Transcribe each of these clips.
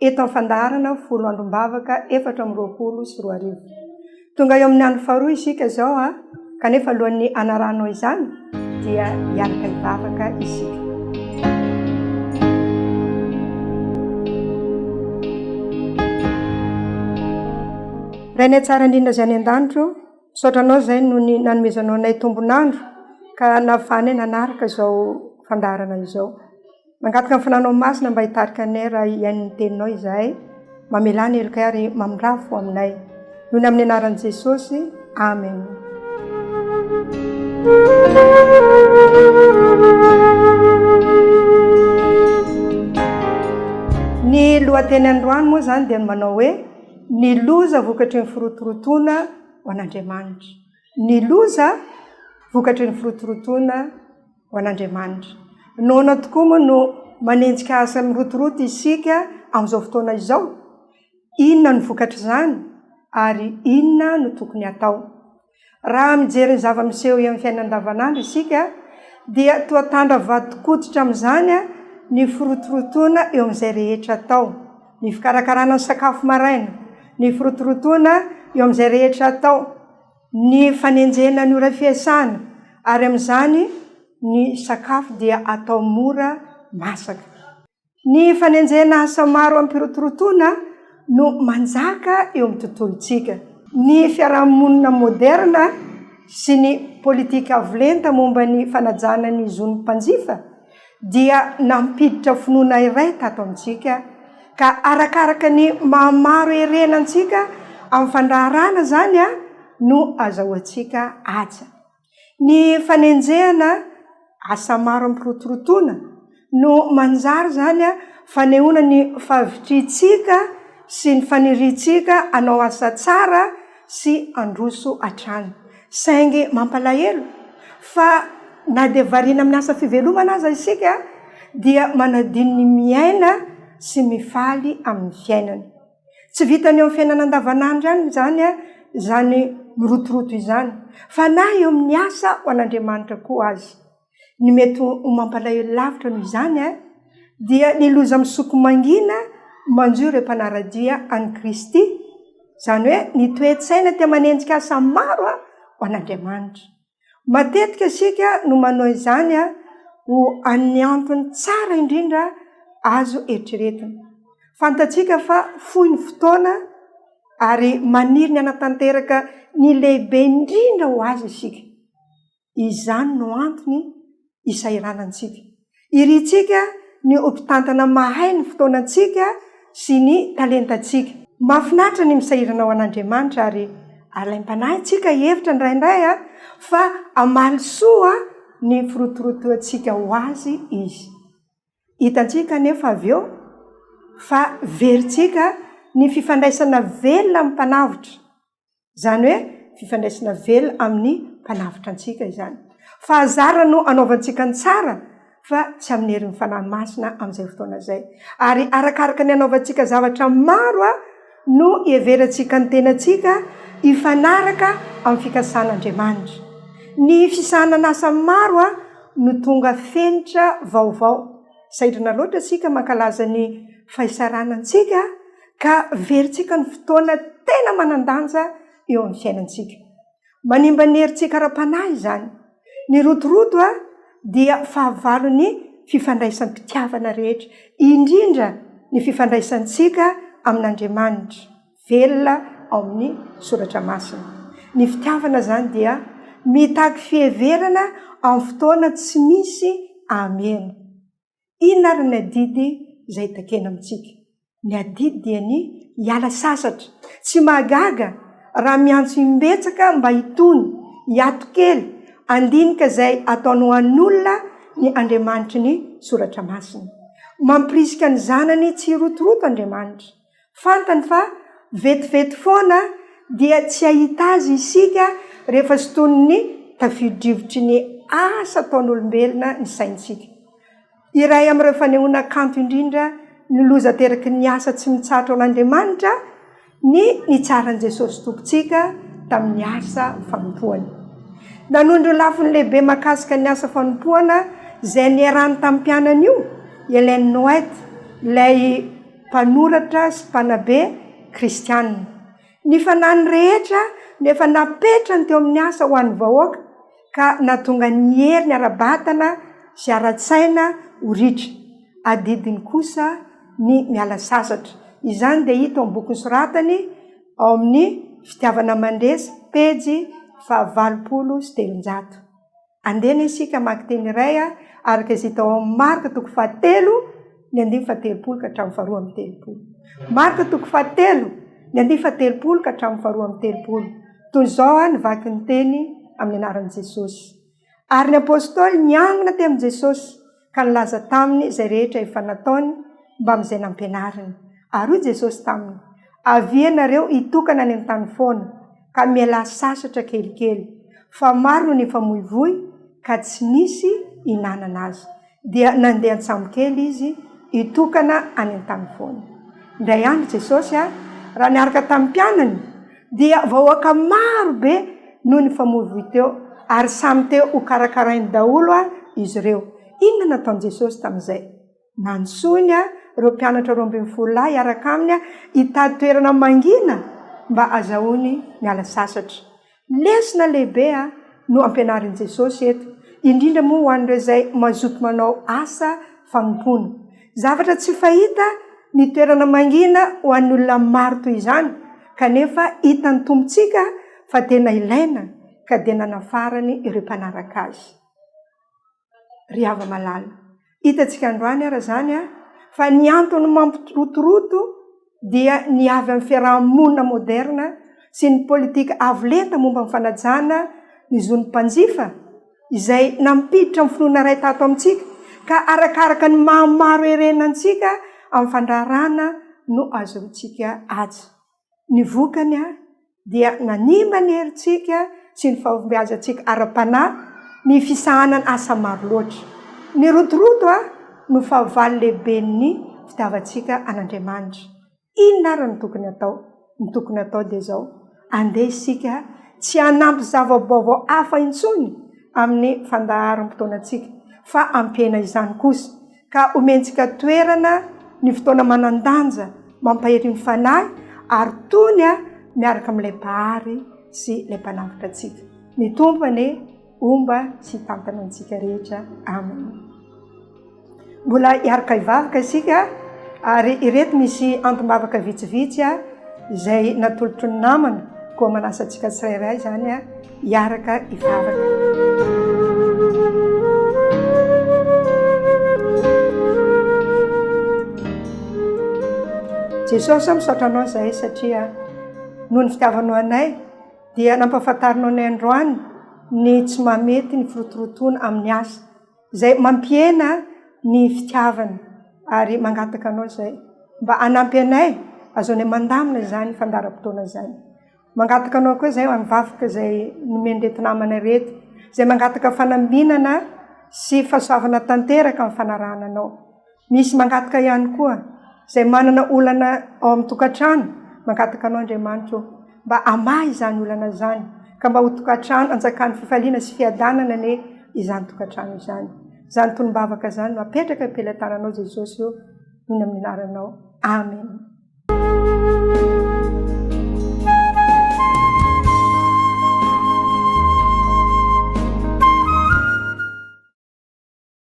Eto amin'ny fandaharana folo androm-bavaka efatra amby roapolo sy roa arivo. Tonga eo amin'ny andro faharoa isika izao an, kanefa alohan'ny hanarahanao izany dia hiaraka hivavaka isika. Rainay tsara indrindra izay any an-danitra ô, misaotra anao izay noho ny nanomezanao anay tombon'andro ka nahafahanay nanaraka izao fandaharana izao. Mangataka ny fananao masina mba hitarika anay raha hihaino ny teninao izahay. Mamelà ny helokay ary mamindrafo ho aminay. Inoana amin'ny anaran'i Jesosy. Amen. Ny lohateny androany moa izany dia manao hoe ny loza vokatry ny firotorotoana ho an'Andriamanitra. Ny loza vokatry ny firotorotoana ho an'Andriamanitra. Noana tokoa moa no manenjika asa mirotoroto isika amin'izao fotoana izao? Inona no vokatr'izany, ary inona no tokony hatao? Raha mijery ny zava-miseho eo amin'ny fiainana andavanandro isika, dia toa tandra vadin-koditra amin'izany ny firotorotoana eo amin'izay rehetra atao. ny fikarakarana ny sakafo maraina, ny firotorotoana eo amin'izay rehetra atao, ny fanenjehana ny ora fiasana, ary amin'izany ny sakafo dia atao mora masaka. Ny fanenjehana asa maro amim-pirotorotoana no manjaka eo amin'ny tontolontsika. Ny fiarahamonina moderna sy ny politika avo lenta momba ny fanajana ny zon'ny mpanjifa dia nampiditra finoana iray tato amintsika, ka arakaraka ny maha maro erena antsika amin'ny fandraharahana izany no azahoantsika haja. Ny fanenjehana asa maro amim-pirotorotoana no manjary izany fanehoana ny fahavitrihantsika sy ny faniriantsika hanao asa tsara sy handroso hatrany. Saingy mampalahelo fa na dia variana amin'ny asa fivelomana aza isika dia manadino ny miaina sy mifaly amin'ny fiainana. Tsy vitan'ny eo amin'ny fiainana andavanandro ihany izany izany mirotoroto izany fa na eo amin'ny asa ho an'Andriamanitra koa aza. Ny mety ho mampalahelo lavitra noho izany dia ny loza misoko mangina manjo ireo mpanara-dia an'i Kristy, izany hoe ny toe-tsaina te manenjika asa maro ho an'Andriamanitra. Matetika isika no manao izany ho an'ny antony tsara indrindra azo eritreretina. Fantatsika fa fohy ny fotoana ary maniry ny hanatanteraka ny lehibe indrindra ho azy isika. Izany no antony isahiranantsika. Irintsika ny ho mpitantana mahay ny fotoanantsika sy ny talentantsika. Mahafinaritra ny misahirana ho an'Andriamanitra ary alaim-panahy tsika hihevitra indraindray fa hamaly soa ny firotorotoantsika ho Azy Izy. Hitantsika anefa avy eo fa verintsika ny fifandraisana velona amin'ny Mpanavotra Izany hoe fifandraisana velona amin'ny Mpanavotra antsika izany. Fahazarana no anaovantsika ny tsara fa tsy amin'ny herin'ny Fanahy Masina amin'izay fotoana izay. Ary arakaraka ny anaovantsika zavatra maro no iheverantsika ny tenantsika hifanaraka amin'ny fikasan'Andriamanitra. Ny fisahanan'asa maro no tonga fenitra vaovao. Sahirana loatra isika mankalaza ny fahisarana antsika. ka averintsika ny fotoana tena manan-danja eo amin'ny fiainantsika. Manimba ny herintsika ara-panahy izany. Ny rotoroto dia fahavalon'ny fifandraisam-pitiavana rehetra, indrindra ny fifandraisantsika amin'Andriamanitra velona ao amin'ny Soratra Masina. Ny fitiavana izany dia mitaky fiheverana amin'ny fotoana tsy misy hameno. Inona ary ny adidy izay takena amintsika? Ny adidy dia ny hiala sasatra. Tsy mahagaga raha miantso imbetsaka mba hitony, hiato kely, handinika izay ataonao an'olona ny Andriamanitry ny Soratra Masina. Mampirisika ny zanany tsy hirotoroto Andriamanitra. Fantany fa vetivety foana dia tsy hahita azy isika rehefa sintonin'ny tafiodrivotry ny asa ataon'olombelona ny saintsika. Iray amin'ireo fanehoana kanto indrindra ny loza ateraky ny asa tsy mitsahatra ao an'Andriamanitra ny nitsaran'i Jesosy Tompontsika tamin'ny asa fanompoany. Nanondro ny lafiny lehibe mahakasika ny asa fanompoana izay niarahany tamin'ny mpianany io i Ellen White, ilay mpanoratra sy mpanabe kristiana. Ny fanahiny rehetra no efa napetrany teo amin'ny asa ho an'ny vahoaka, ka nahatonga ny heriny ara-batana sy ara-tsaina ho ritra. Adidiny kosa ny miala sasatra. Izany dia hita ao amin'ny boky nosoratany ao amin'ny Fitiavana mandresy, pejy fahavalopolo sy telonjato. Andeha anie isika hamaky teny iray araka izay hita ao amin'ny Marka toko fahatelo ny andininy fahatelopolo ka hatramin'ny faharoa amby telopolo. Marka toko fahatelo ny andininy fahatelopolo ka hatramin'ny faharoa amby telopolo. Toy izao ny vakin'ny teny amin'ny anaran'i Jesosy. Ary ny apostoly niangona tamin'i Jesosy ka nilaza taminy izay rehetra efa nataony mbamin'izay nampianariny. Ary hoy Jesosy taminy, Avia ianareo hitokana any an-tany foana, ka mialà sasatra kelikely, fa maro no nifamoivoy ka tsy nisy hinanana azy. Dia nandeha an-tsambo kely izy hitokana any an-tany foana. Indray andro Jesosy, raha niaraka tamin'ny mpianany, dia vahoaka maro be no nifamoivoy teo, ary samy te hokarakarainy daholo izy ireo. Inona no nataon'i Jesosy tamin'izay? Nantsoiny ireo mpianatra roa ambin'ny folo lahy hiaraka aminy hitady toerana mangina mba hazahoany miala sasatra. Lesona lehibe no ampianarin'i Jesosy eto, indrindra moa ho an'ireo izay mazoto manao asa fanompoana. Zavatra tsy fahita ny toerana mangina ho an'ny olona maro toy izany. Kanefa hitan'ny Tompontsika fa tena ilaina ka dia nanafarany ireo mpanaraka Azy. Ry hava-malala, hitantsika androany ary izany fa ny antony mampirotoroto dia ny avy amin'ny fiaraha-monina moderina sy ny politika avo lenta momba ny fanajana ny zon'ny mpanjifa, izay nampiditra ny finoana iray tato amintsika, ka arakaraka ny maha maro herena antsika amin'ny fandraharahana no azontsika azy. Ny vokany ary dia nanimba ny herintsika sy ny fahombiazantsika ara-panahy ny fisahanana asa maro loatra. Ny rotoroto no fahavalo lehiben'ny fitiavantsika an'Andriamanitra. Inona ary no tokony hatao? Ny tokony hatao dia izao, andeha isika tsy hanampy zava-baovao hafa intsony amin'ny fandaharam-potoanantsika fa hampihena izany kosa, ka homentsika toerana ny fotoana manan-danja mampahery ny fanahy ary tony miaraka amin'ilay Mpahary sy ilay Mpanavotra antsika. Ny Tompo anie. Homba sy hitantana antsika rehetra. Amena. Mbola hiaraka hivavaka isika ary ireto misy antom-bavaka vitsivitsy izay natolotry ny namana koa manasa antsika tsirairay izany hiaraka hivavaka. Jesosy aho misaotra anao izay satria noho ny fitiavanao anay dia nampahafantarinao anay androany ny tsy mahamety ny firotorotoana amin'ny asa, izay mampihena ny fitiavana, ary mangataka Anao izay mba hanampy anay hahazoanay mandamina izany fandaharam-potoana izany. Mangataka Anao koa izahay amin'ny vavaka izay nomen'ireto namana ireto, izay mangataka fanambinana sy fahasoavana tanteraka amin'ny fanarahana Anao. Misy mangataka ihany koa izay manana olana ao amin'ny tokantrano, mangataka anao Andriamanitra ô, mba hamaha izany olana izany, ka mba ho tokantrano anjakan'ny fifaliana sy fiadanana anie izany tokantrano izany. Izany tolom-bavaka izany no apetraka eo am-pelatananao Jesosy ô, inoana amin'ny anaranao. Amena.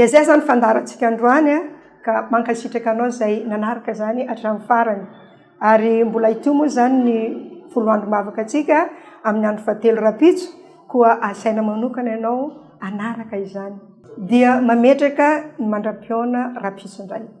Dia izay izany fandaharantsika androany a, ka mankasitraka anao izay nanaraka izany hatramin'ny farany. Ary mbola hitohy moa izany ny folo andro mavaka antsika amin'ny andro fahatelo rahampitso, koa asaina manokana ianao hanaraka izany. Dia mametraka ny mandra-pihaona rahampitso indray.